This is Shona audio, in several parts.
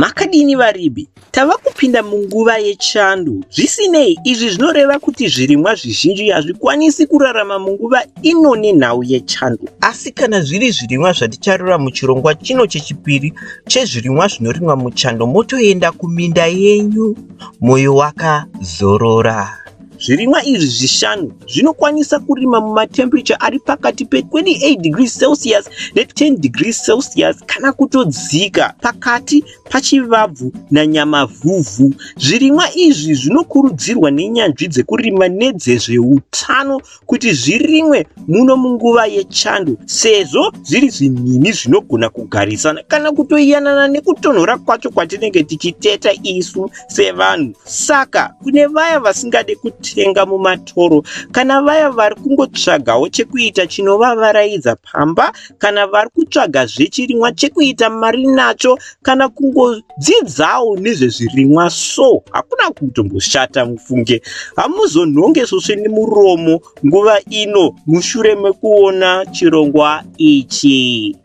Makadini varibi? Tava kupinda munguva yechando. Zvisinei, izvi zvinoreva kuti zvirimwa zvizhinji hazvikwanisi kurarama munguva ino nenhau yechando. Asi kana zviri zvirimwa zvaticharura muchirongwa chino chechipiri chezvirimwa zvinorimwa muchando motoenda kuminda yenyu moyo wakazorora. Zvirimwa izvi zvishanu zvinokwanisa kurima mumatemperature ari pakati pe28 degrees Celsius ne10 degrees Celsius kana kutodzika pakati pachivabvu nanyamavhuvhu. Zvirimwa izvi zvinokurudzirwa nenyanzvi dzekurima nedzezveutano kuti zvirimwe muno munguva yechando sezvo zviri zvinhimi zvinogona kugarisana kana kutoiyanana nekutonhora kwacho kwatinenge tichiteta isu sevanhu saka kune vaya vasingade kutenga mumatoro kana vaya vari kungotsvagawo chekuita chinovavaraidza pamba kana vari kutsvaga zvechirimwa chekuita mari nacho kana kungodzidzawo nezvezvirimwa so hakuna kutomboshata mufunge hamuzonhonge svosve nemuromo nguva ino mushure mekuona chirongwa ichi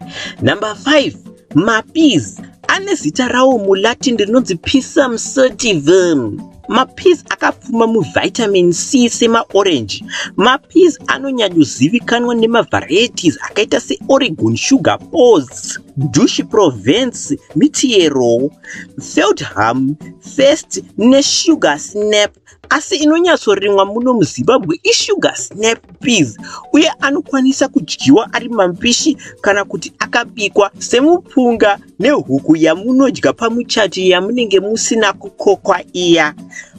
number 5 mapiz ane zita rawo mulatin rinonzi pisum certivum Mapizi akapfuma muvitamin C semaorenji. Mapizi anonyanyozivikanwa nemavarieties akaita seOregon Sugar Pose, Dushi Provence, Mitiero, Feldham, First neSugar Snap asi inonyatsorimwa muno muzimbabwe isugar snap peas uye anokwanisa kudyiwa ari mampishi kana kuti akabikwa semupunga nehuku yamunodya pamuchato yamunenge musina kukokwa iya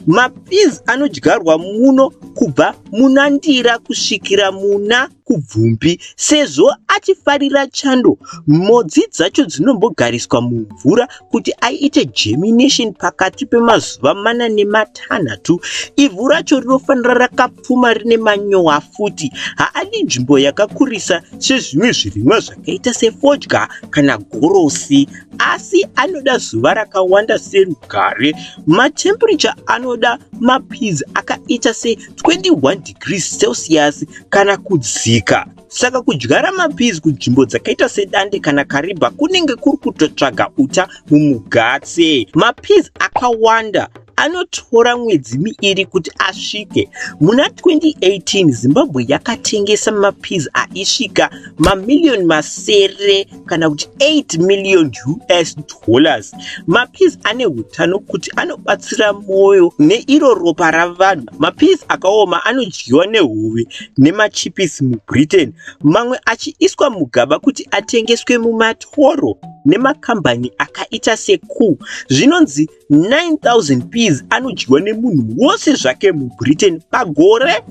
mapiz anodyarwa muno kubva muna ndira kusvikira muna kubvumbi sezvo achifarira chando modzi dzacho dzinombogariswa mumvura kuti aite germination pakati pemazuva mana nematanhatu ivhu racho rinofanira rakap pfuma rine manyowa futi haadi nzvimbo yakakurisa sezvimwe zvirimwa zvakaita sefodya kana gorosi asi anoda zuva rakawanda serugare matemperature anoda mapiz akaita se21 degrees celsius kana kudzika saka kudyara mapiz kunzvimbo dzakaita sedande kana kariba kunenge kuri kutotsvaga uta mumugatse mapiz akawanda anotora mwedzi miiri kuti asvike. Muna 2018 Zimbabwe yakatengesa mapiz aisvika mamiliyoni masere kana kuti 8 million US dollars. Mapiz ane utano kuti anobatsira mwoyo neiro ropa ravanhu. Mapiz akaoma anodyiwa nehuve nemachipisi muBritain, mamwe achiiswa mugaba kuti atengeswe mumatoro nemakambani akaita seCool. Zvinonzi 9,000 peas anodyiwa nemunhu wose zvake mubritain pagore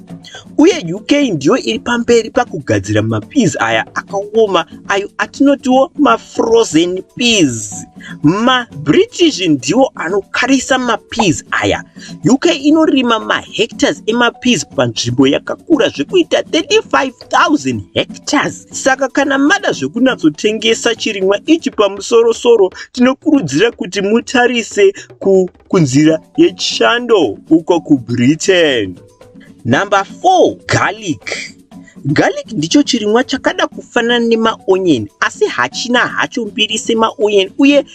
uye uk ndiyo iri pamberi pakugadzira mapeas aya akaoma ayo atinotiwo mafrozen peas mabritish ndiwo anokarisa mapeas aya uk inorima mahectors emapeas panzvimbo yakakura zvekuita 35 1000 hectares saka kana mada zvekunyatsotengesa chirimwa ichi pamusoro soro tinokurudzira kuti mutarise ku, kunzira yechando uko kubritain number 4 garlic garlic ndicho chirimwa chakada kufanana nemaonion asi hachina hacho mbiri semaonion uye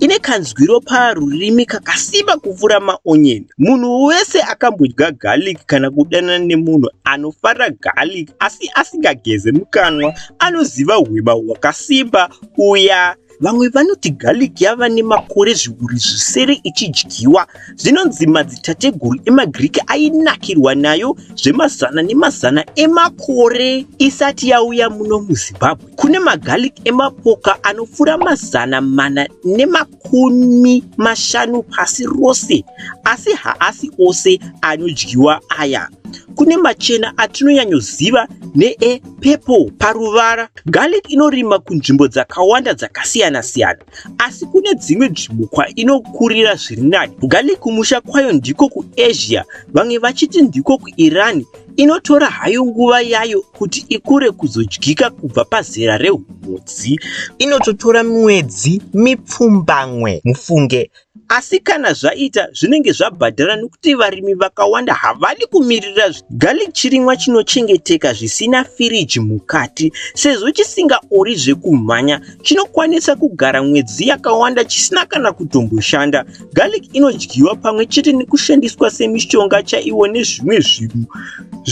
Ine kanzwiro parurimi kakasimba kupfuura maonyeni. Munhu wese akambodya garlic kana kudanana nemunhu anofara garlic asi asingageze mukanwa anoziva hwema hwakasimba uya Vamwe vanoti garlic yava nemakore zviuru zvisere ichidyiwa. Zvinonzi madzitateguru emaGiriki ainakirwa nayo zvemazana nemazana emakore isati yauya muno muZimbabwe. Kune magarlic emapoka anopfuura mazana mana nemakumi mashanu pasi rose, asi haasi ose anodyiwa aya. Kune machena atinonyanyoziva neepurple paruvara. Garlic inorima kunzvimbo dzakawanda dzakasiyana-siyana. asi kune dzimwe nzvimbo kwainokurira zviri nani kugali kumusha kwayo ndiko kuasia vamwe vachiti ndiko kuiran inotora hayo nguva yayo kuti ikure kuzodyika kubva pazera reumhodzi inototora mwedzi mipfumbamwe mufunge Asi kana zvaita zvinenge zvabhadhara nokuti varimi vakawanda havadi kumirira zvinhu. Garlic chirimwa chinochengeteka zvisina firiji mukati. Sezvo chisingaori zvekumhanya, chinokwanisa kugara mwedzi yakawanda chisina kana kutomboshanda. Garlic inodyiwa pamwe chete nekushandiswa semishonga chaiwo nezvimwe zvinhu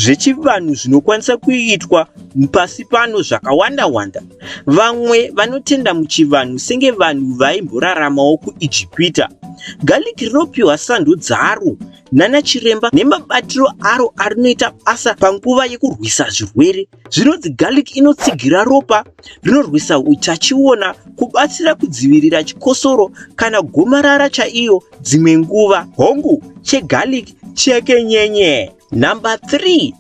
zvechivanhu zvinokwanisa kuitwa pasi pano zvakawanda-wanda. Vamwe vanotenda muchivanhu senge vanhu vaimboraramawo kuIjipita. Garlic rinopiwa sando dzaro nana chiremba nemabatiro aro arinoita basa panguva yekurwisa zvirwere. Zvinonzi garlic inotsigira ropa, rinorwisa utachiona, kubatsira kudzivirira chikosoro kana gomarara chaiyo dzimwe nguva. Hongu, chegarlic chekenyenye. Number 3.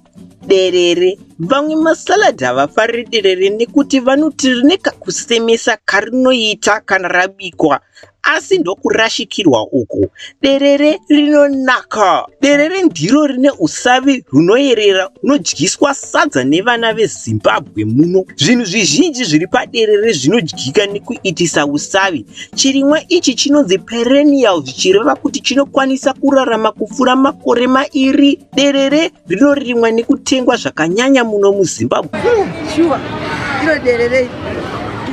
derere vamwe masalad havafariri derere nekuti vanoti rine kakusemesa karinoita kana rabikwa asi ndokurashikirwa uku derere rinonaka derere ndiro rine usavi hunoyerera hunodyiswa sadza nevana vezimbabwe muno zvinhu zvizhinji zviri paderere zvinodyika nekuitisa usavi chirimwa ichi chinonzi perenial zvichireva kuti chinokwanisa kurarama kupfuura makore mairi Derere rinorimwa nekutengwa zvakanyanya muno muZimbabwe. Shuwa, iro derere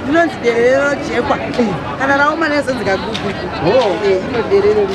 rinonzi derere rojekwa kana raoma nezonzi kagugu iro derere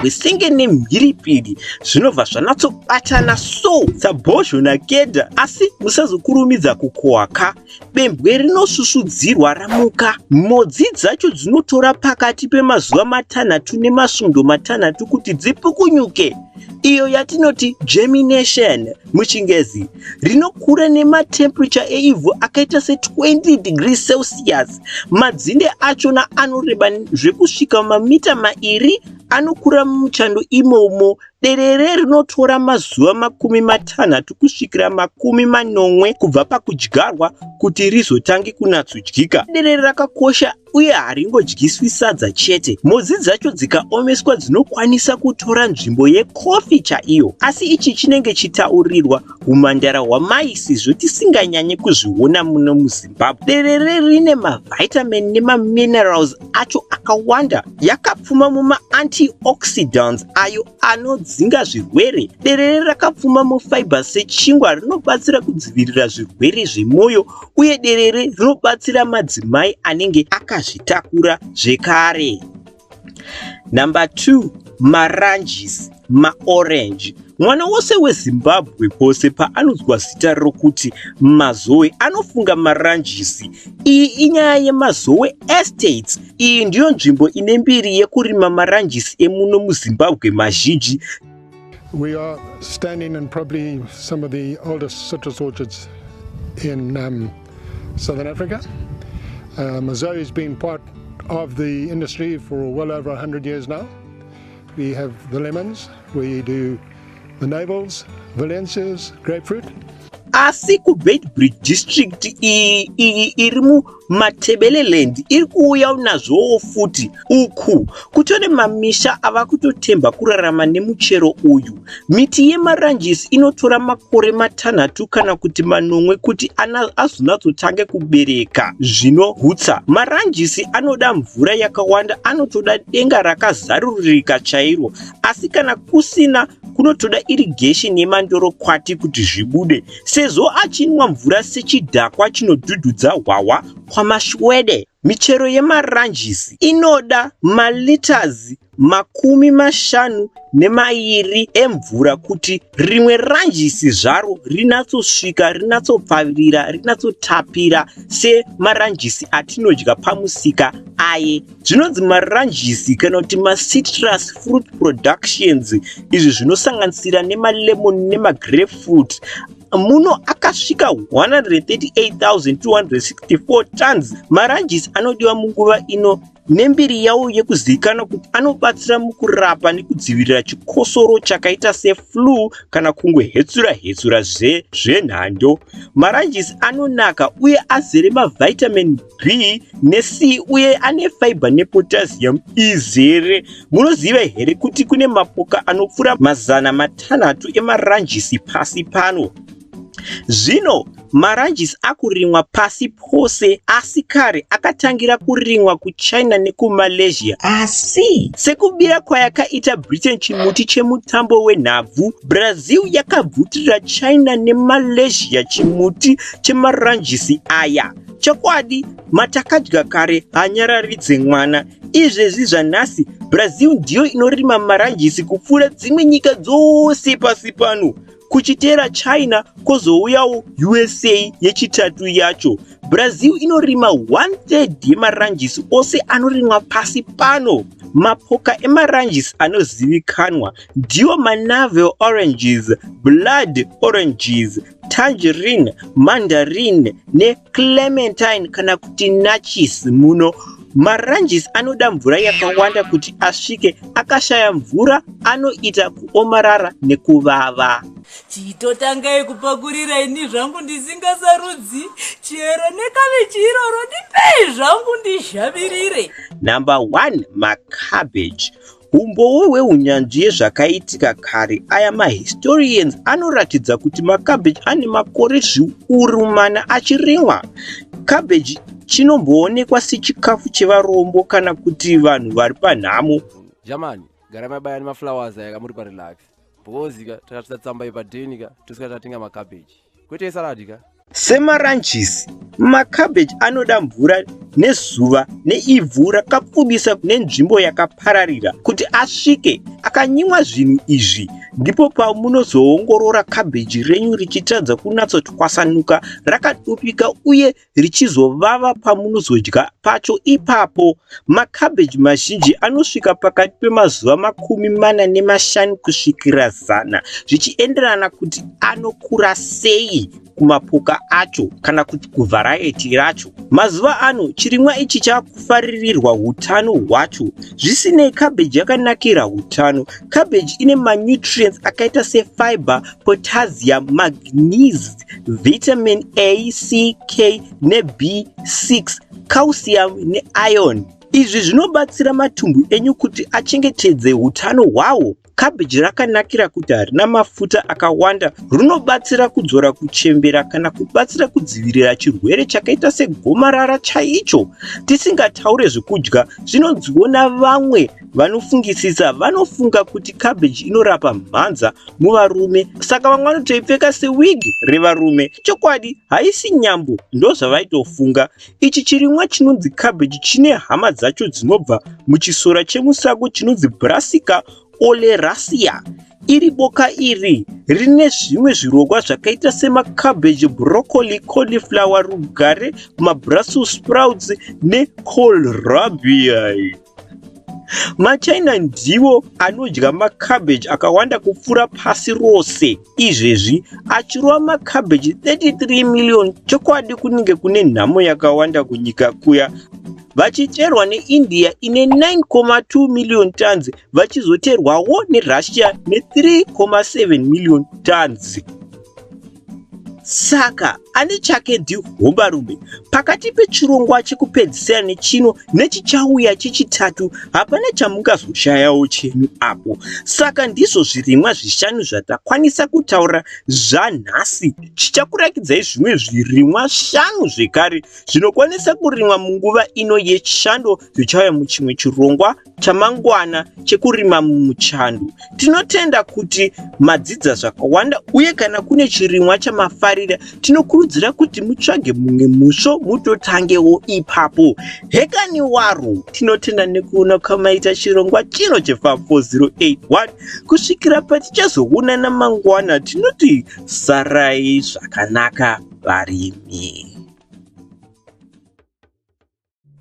Wisenge nemhiripiri zvinobva zvanatsobatana so sabhozho nakeda asi musazokurumidza kukohwa ka. Bembwe rinosusudzirwa ramuka. Mhodzi dzacho dzinotora pakati pemazuva matanhatu nemasvondo matanhatu kuti dzipukunyuke, iyo yatinoti germination muChingezi. Rinokura nematemperature eivhu akaita se20 degrees Celsius. Madzinde achona anoreba zvekusvika mamita mairi anokura muchando imomo Derere rinotora mazuva makumi matanhatu kusvikira makumi manomwe kubva pakudyarwa kuti rizotange kunatsodyika. Derere rakakosha uye haringodyiswi sadza chete. Mhodzi dzacho dzikaomeswa dzinokwanisa kutora nzvimbo yekofi chaiyo. Asi ichi chinenge chitaurirwa humhandara hwamai sezvo tisinganyanye kuzviona muno muZimbabwe. Derere rine mavitamin nemaminerals acho akawanda yakapfuma mumaantioxidants ayo anodzinga zvirwere. Derere rakapfuma mufiber sechingwa rinobatsira kudzivirira zvirwere zvemwoyo uye derere rinobatsira madzimai anenge akazvitakura zvekare. Number 2, maranjisi. maorange. Mwana wose weZimbabwe pose paanonzwa zita rokuti Mazowe anofunga maranjisi. Iyi inyaya yeMazowe Estates. Iyi ndiyo nzvimbo ine mbiri yekurima maranjisi emuno muZimbabwe mazhinji. We are standing in probably some of the oldest citrus orchards in um, Southern Africa. Uh, Mazowe has been part of the industry for well over 100 years now. We have the lemons, we do the navels, valencias, grapefruit. asi kubeitbridge district iyi iri mumatebeleland iri kuuya unazvowo futi uku kutore mamisha ava kutotemba kurarama nemuchero uyu Miti yemaranjisi inotora makore matanhatu kana kuti manomwe kuti azonatsotange kubereka zvinohutsa. Maranjisi anoda mvura yakawanda, anotoda denga rakazarurika chairo, asi kana kusina kunotoda irrigation yemandorokwati kuti zvibude, sezvo achinwa mvura sechidhakwa chinodhudhudza hwahwa kwaMaShwede. Michero yemaranjisi inoda malitazi makumi mashanu nemairi emvura kuti rimwe ranjisi zvaro rinatsosvika rinatsopfavirira rinatsotapira semaranjisi atinodya pamusika aye zvinonzi maranjisi kana kuti macitrus fruit productions izvi zvinosanganisira nemalemon nemagrape fruit muno akasvika 138264 tons maranjisi anodiwa munguva ino nembiri yawo yekuzivikanwa kuti anobatsira mukurapa nekudzivirira chikosoro chakaita seflu kana kungwe hetsura hetsura zve zvenhando maranjisi anonaka uye azere mavitamin b nec uye ane fiber nepotassium izere munoziva here kuti kune mapoka anopfuura mazana matanhatu emaranjisi pasi pano Zvino maranjisi akurimwa pasi pose asi kare akatangira kurimwa kuchina nekumalaysia asi sekubira kwayakaita britain chimuti chemutambo wenhabvu brazil yakabvutirira china nemalaysia chimuti chemaranjisi aya chokwadi matakadya kare hanyararidze mwana izvezvi zvanhasi brazil ndiyo inorima maranjisi kupfuura dzimwe nyika dzose pasi pano kuchiteera china kozouyawo usa yechitatu yacho brazil inorima 13 yemaranjisi ose anorimwa pasi pano mapoka emaranjisi anozivikanwa ndiwo manavel oranges blood oranges tangerine mandarin neclementine kana kuti nachis muno Maranges anoda mvura yakawanda kuti asvike, akashaya mvura anoita kuomarara nekuvava. Chitotangai kupakurira ini zvangu ndisingasarudzi chero nekabichi iroro ndipei zvangu ndizhavirire. Number one, macabbage. Humbowo hwehunyanzvi yezvakaitika kare aya mahistorians anoratidza kuti makabheji ane makore zviuru mana achirimwa. Kabheji chinomboonekwa sechikafu chevarombo kana kuti vanhu vari panhamo. Jamani, gara mabaya nemaflowers aya kamuri parelax. Bhozika, takatisa tsamba yepadhenika, tosika tatenga makabheji. kwete salad ka semaranchisi macabbage anoda mvura nezuva neivhu rakapfudisa kune nzvimbo yakapararira kuti asvike akanyimwa zvinhu izvi ndipo pamunozoongorora cabbage renyu richitadza kunatsotwasanuka rakadupika uye richizovava pamunozodya pacho ipapo. Makabheji mazhinji anosvika pakati pemazuva makumi mana nemashanu kusvikira zana zvichienderana kuti anokura sei kumapoka acho kana kuti kuvharaiti racho. Mazuva ano chirimwa ichi chakufaririrwa utano hwacho. Zvisinei, kabheji yakanakira utano. Kabheji ine manutrients akaita sefiber, potassium, magnesium vitamin A, C, K neB6, calcium neiron. Izvi zvinobatsira matumbu enyu kuti achengetedze utano hwawo. Kabhiji rakanakira kuti harina mafuta akawanda, rinobatsira kudzora kuchembera kana kubatsira kudzivirira chirwere chakaita segomarara chaicho. Tisingataure zvekudya zvinonziwo navamwe Vanofungisisa vanofunga kuti cabbage inorapa mhanza muvarume saka vamwe vanotoipfeka sewig revarume. Chokwadi haisi nyambo ndozvavaitofunga. Ichi chirimwa chinonzi cabbage chine hama dzacho dzinobva muchisora chemusango chinonzi Brassica oleracea. Iri boka iri rine zvimwe zvirongwa zvakaita semacabbage, broccoli, cauliflower, rugare, mabrussels sprouts necoal rabi. machina ndiwo anodya macabbage akawanda kupfuura pasi rose izvezvi achirova macabbage 33 million chokwadi kunenge kune nhamo yakawanda kunyika kuya vachiterwa neindia ine 9.2 million tons vachizoterwawo nerussia ne3.7 million tons saka ane chake ndi hombarume pakati pechirongwa chekupedzisira nechino nechichauya chechitatu hapana chamungazoshayawo chenyu apo saka ndizvo zvirimwa zvishanu zvatakwanisa kutaura zvanhasi chichakurakidzai zvimwe zvirimwa shanu zvekare zvinokwanisa kurimwa munguva ino yechando zvichauya muchimwe chirongwa chamangwana chekurima mumuchandu. Tinotenda kuti madzidza zvakawanda uye kana kune chirimwa chamafarira tinokurudzira kuti mutsvage mumwe musvo mutotangewo ipapo. Hekani waro! Tinotenda nekuona kwamaita chirongwa chino cheFarm 4081 kusvikira patichazoonana mangwana tinoti sarai zvakanaka varimi.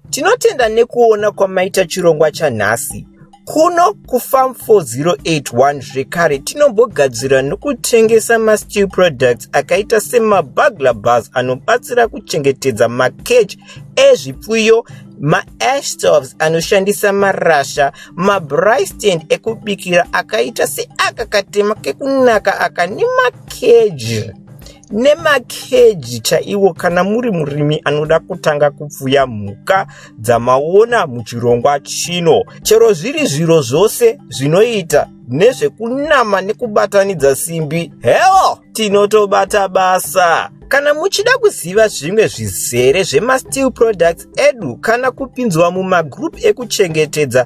Tinotenda nekuona kwamaita chirongwa chanhasi. Kuno kuFarm 4081 zvekare tinombogadzira nokutengesa masteel products akaita semabugler bars anobatsira kuchengetedza makeji ezvipfuyo, maash stoves anoshandisa marasha, mabry stand ekubikira akaita seaka katema kekunaka aka nemakeji. nemakeji chaiwo kana muri murimi anoda kutanga kupfuya mhuka dzamaona muchirongwa chino chero zviri zviro zvose zvinoita nezvekunama nekubatanidza simbi heo tinotobata basa kana muchida kuziva zvimwe zvizere zvemasteel products edu kana kupinzwa mumagroup ekuchengetedza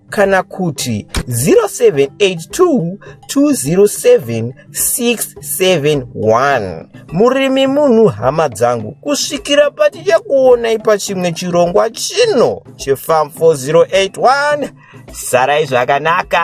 kana kuti 0782207671 murimi munhu hama dzangu kusvikira patichakuonai pachimwe chirongwa chino chefam 4081 sarai zvakanaka